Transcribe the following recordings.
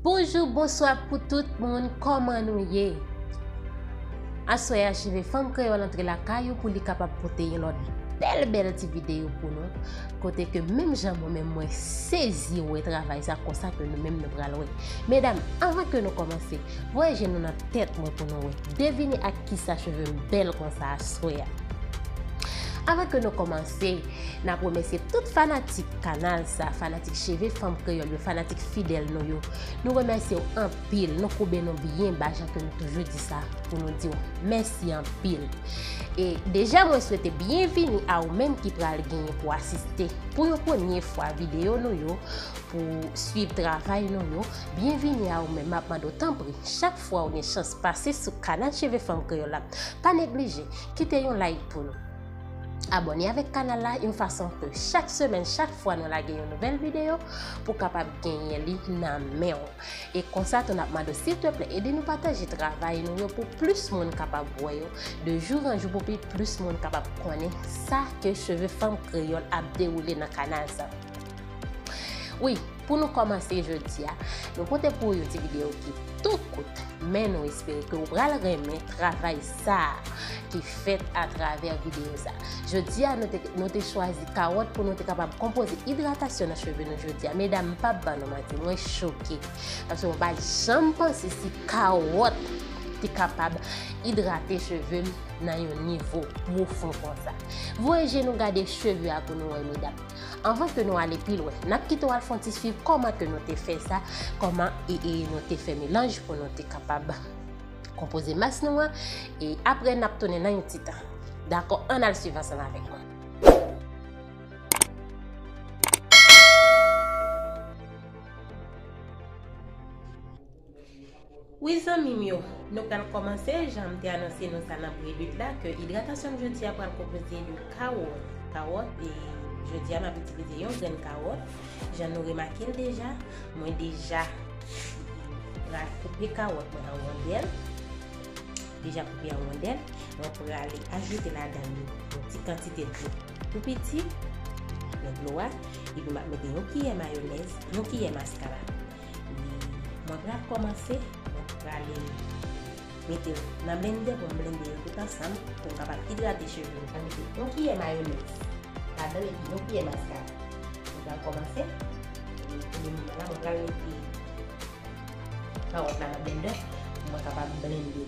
Bonjou bonswa pou tout moun kòman nou ye Aswè a cheve fanm kreyòl antre lakay ou pou li kapab pote yon lòt bèl bèl ti videyo pou nou kote ke menm jan mwen menm mwen sezi wè travay sa konsa ke nou menm nou pral wè medam anvan ke nou kòmanse voye je nou nan tèt mwen pou nou wè devine ak kisa cheve m bèl konsa aswè a Avan ke nou kòmanse Nap remèsye tout fanatik kanal sa, fanatik cheve fanm kreyòl yo, fanatik fidèl nou yo. Nou remèsye w anpil, nou koube nou byen ba jan ke nou toujou di sa pou nou di w mèsi anpil. E deja mwen swete byenvini a ou menm ki pral genyen pou asiste pou yon premye fwa videyo nou yo, pou swiv travay nou yo. Byenvini a ou menm, map mande w tanpri chak fwa ou gen chans pase sou kanal cheve fanm kreyòl la, pa neglije kite yon like pou nou. Abòne avèk kanal la yon fason ke chak semèn, chak fwa nou lage yon nouvèl videyo, pou kapab genyen li nan men w. E konsa tou nap mande w silteplè ede nou pataje travay nou yo pou plis moun kapab wè yo, de jou an jou pou pi plis moun kapab konnen sa ke Cheve Fanm Kreyòl ap dewoule nan kanal sa. Wi, pou nou kòmanse jodi a, nou pote pou ou yon ti videyo ki tout kout, men nou espere ke ou pral renmen travay sa a ki fèt atravè videyo sa a. Jodi a, nou te chwazi kawòt pou nou te kapab konpoze idratasyon nan cheve nou jodi a. Medam, m pap ban nou manti, mwen choke, paske mwen pa t janm panse si kawòt te kapab idrate cheve m nan yon nivo pwofon konsa. Voye je nou gade cheve a pou nou wè, medam. Anvan ke nou ale pi lwen, nap kite w al fon ti swiv kòman ke nou te fè sa, kòman e e nou te fè melanj pou nou te kapab konpoze mas nou an, e apre nap tounen nan yon ti tan. Dakò, ann al swiv ansanm avèk mwen. Wi zanmim yo, nou pral kòmanse, janm te anonse nou sa nan prelude la ke idratasyonm jodia pral konpoze de kawòt, kawòt e jodia map itilize yon grenn kawòt, jan nou remakel deja, mwen deja pral koupe kawòt mwen an wondèl, deja koupe an wondèl, mwen prale ajoute ladann li yon ti kantite dlo tou piti, nan dlo a, epi map mete yon kiyè mayonèz, yon kiyè maskara, Wi mwen pral kòmanse mwen prale mete yo nan blende pou m blende yo tout ansanm pou m kapab idrate cheve m. Mwen mete yon kiyè mayonèz ladanl epi yon kiyè maskara mwen pral kòmanse pou le moman la mwen pral mete kawòt la nan blendè pou mwen kapab blende li.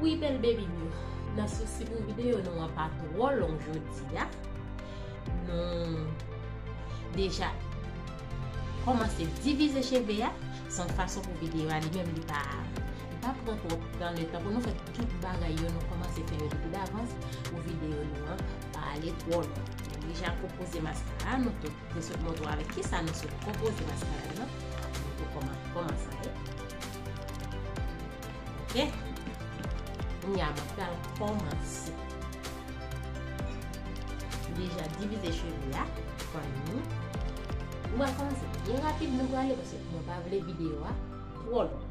Wi bèl bebim yo, nan sousi pou videyo nou an pa twò long jodi a, nou deja kòmanse divize cheve a, se yon fason pou videyo a li menm li pa pran twòp tan letan pou nou fè tout bagay yo nou kòmanse fè yo depi davans pou videyo nou an pa ale twò long. Nou deja konpoze maskara nou tou, nou sot montre w avèk kisa nou sot konpoze maskara nou an, nou tou kòmanse avèk. Oke Kounye a mwen pral kòmanse M deja divize cheve a An ni Nou pral kòmanse byen rapid nou prale pase mwen pa vle videyo a twò long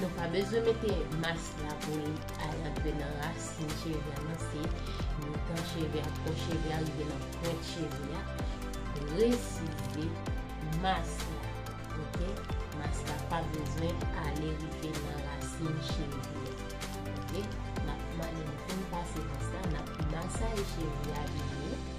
Nou pa bezwen mete mas la pou li al rantre nan rasin cheve a nan se mitan cheve a fon cheve a rive nan pwent cheve a presize mas la ok mas la pa bezwen ale rive nan rasin cheve a ok nap mande nou poun pase mas la nap masaye cheve a byen.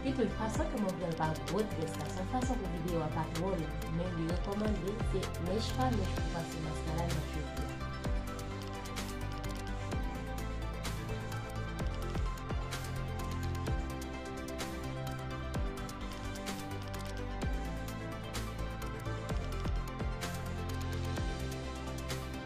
Epi tou li pa santi move l pa gwo tres la sèl fason pou video a pa two long men li rekomande se mèch pa mèch pou pase maskara nan cheve yo.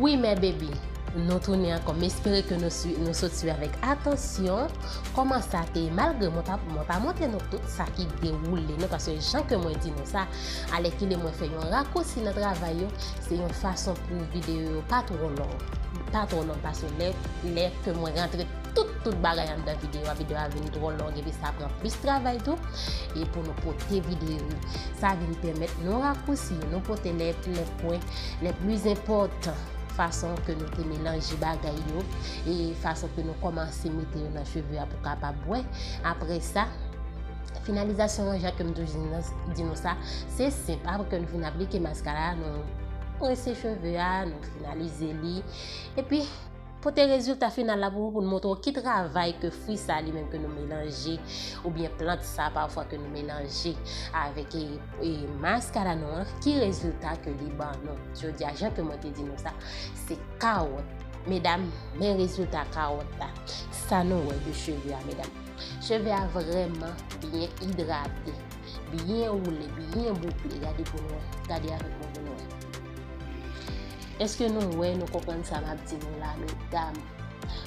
Wi mè bebi, nou tounen ankò, m espere ke nou sot swiv avèk atansyon kòman sa te ye, malgre mwen pa montre nou tout sa ki dewoule nan, paske jan ke mwen di nou sa, Alèkile mwen fè yon rakousi nan travay yo, se yon fason pou videyo yo pa twò long, pa twò long paske lè, lè ke mwen rantre tout, tout bagay anndan videyo a, videyo a vin twò long epi sa pran plis travay tou, e pou nou pote videyo yo. Sa vin pèmèt nou rakousi yo, nou pote lè, lè pwen, lè plis enpòtan, fason ke nou te melanje bagay yo, e fason ke nou kòmanse mete yo nan cheve a pou kapab wè, apre sa. Finalizasyon an, jan ke m toujou di nou sa, se senp. Apre ke nou fin aplike maskara a, nou prese cheve a, nou finalize li. E pi, pote rezilta final la pou ou, pou nou montre ou ki travay ke fwi sa li menm ke nou melanje, ou byen plant sa pafwa ke nou melanje avèk e maskara nou an, ki rezilta ke li ban nou. Jodi a, jan ke mwen te di nou sa, se kawòt. Medam, men rezilta kawòt la. Sa nou wè de cheve a, medam? Cheve a vrèman byen idrate, byen woule, byen boukle. Gade pou nou wè. Gade avèk mwen pou nou wè. Eske nou wè, nou konprann sa map di nou la medam?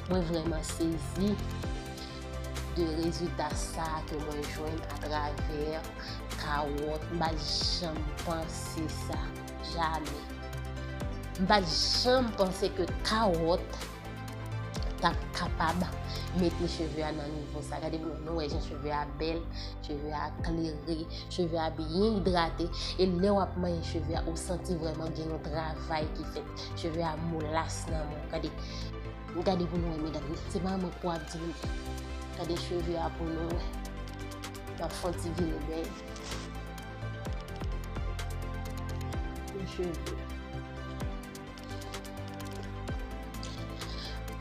Mwen vrèman sezi de rezilta sa ke mwen jwenn a travè kawòt. M pa janm panse sa. Jamè. M pa janm panse ke kawòt ta kapab mete cheve a nan nivo sa. Gade moun nou wè jen cheve a bel, cheve a klere, cheve a byen idrate. E lè wap manye cheve a, ou santi vreman gen yon travay ki fè. Cheve a moulas nan moun. Gade, gade moun nou wè medan. Se pa moun pou ap di moun. Gade cheve a pou nou wè. Wap fon ti vile bè. Yon cheve.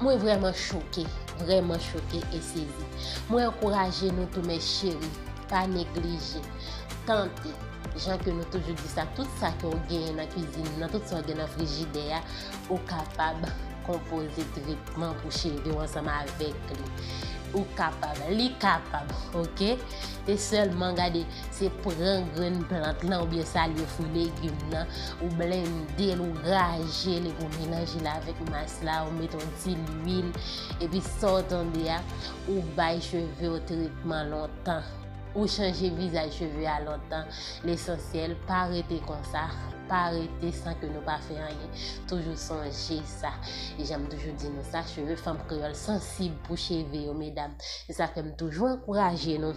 Mwen vreman choke, vreman choke e sezi. Mwen ankouraje nou tou mes cheri, pa neglije, tante, jan ke nou toujou di sa, tout sa ke ou genyen nan kizin nan, tout sa ou gen nan frijidè a, ou kapab konpoze tretman pou cheri ou ansanm avek li. Ou kapab, li kapab, ok? Se sèlman gade, se pran grenn plant lan ou byen sa lye fwi legim nan, ou blende l, ou graje l, epi ou melanje l avèk mas la, ou met yon ti lwil, epi sa w tande a, ou bay cheve w tretman lontan, ou chanje vizaj cheve a lontan, lesansyèl pa rete konsa, pa rete san ke nou pa fè anyen, toujou sonje sa, e jan m toujou di nou sa, cheve fanm kreyòl sansib pou cheve yo medam. Se sa fè m toujou ankouraje nou,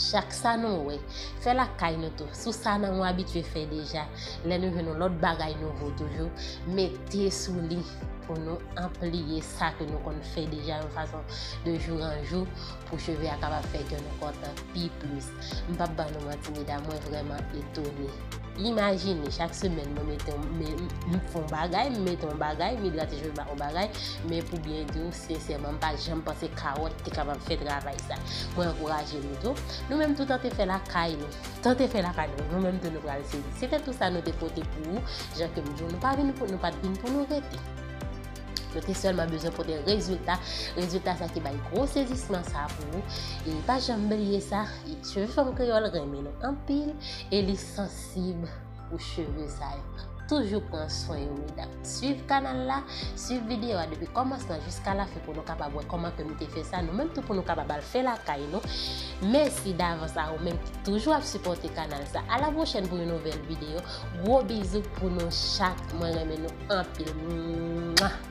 chak sa nou wè, fè l ak kay nou tou. Sou sa nan ou abitye fè deja, lè nou jwenn yon lòt bagay nouvo toujou, mete sou li pou nou anpliye sa ke nou konn fè deja yon fason de jou an jou pou cheve a kapab fè kè nou kontan pi plis. M pap ba nou manti medam, mwen vrèman etone. Imajine chak semèn mwen mete yon m fon bagay, m mete yon bagay, m idrate cheve m ak yon bagay, men pou byen di ou sensèman m pa janm panse kawòt te kapab fè travay sa. Mwen ankouraje nou tou, nou menm tou tante fè lakay nou. Tante fè lakay nou, nou menm tou nou pral sezi. Se te tou sa nou te pote pou ou, jan ke m di w nou pa vin pou nou pat vin pou nou rete. Nou te sèlman bezwen pote rezilta, rezilta sa ki bay gwo sezisman sa pou nou. E pa janm bliye sa, e cheve fanm kreyòl renmen nou anpil, e li sansib pou cheve sa yo. Toujou pran swen yo medam. Swiv kanal la, swiv videyo a depi kòmansman jiska lafen pou nou kapab wè kòman ke nou te fè sa, nou menm tou pou nou kapab al fè lakay nou. Mèsi davans a ou menm ki toujou ap sipòte kanal sa. A la pwochèn pou yon nouvèl videyo. Gwo bizou pou nou chak mwen renmen nou anpil mwah.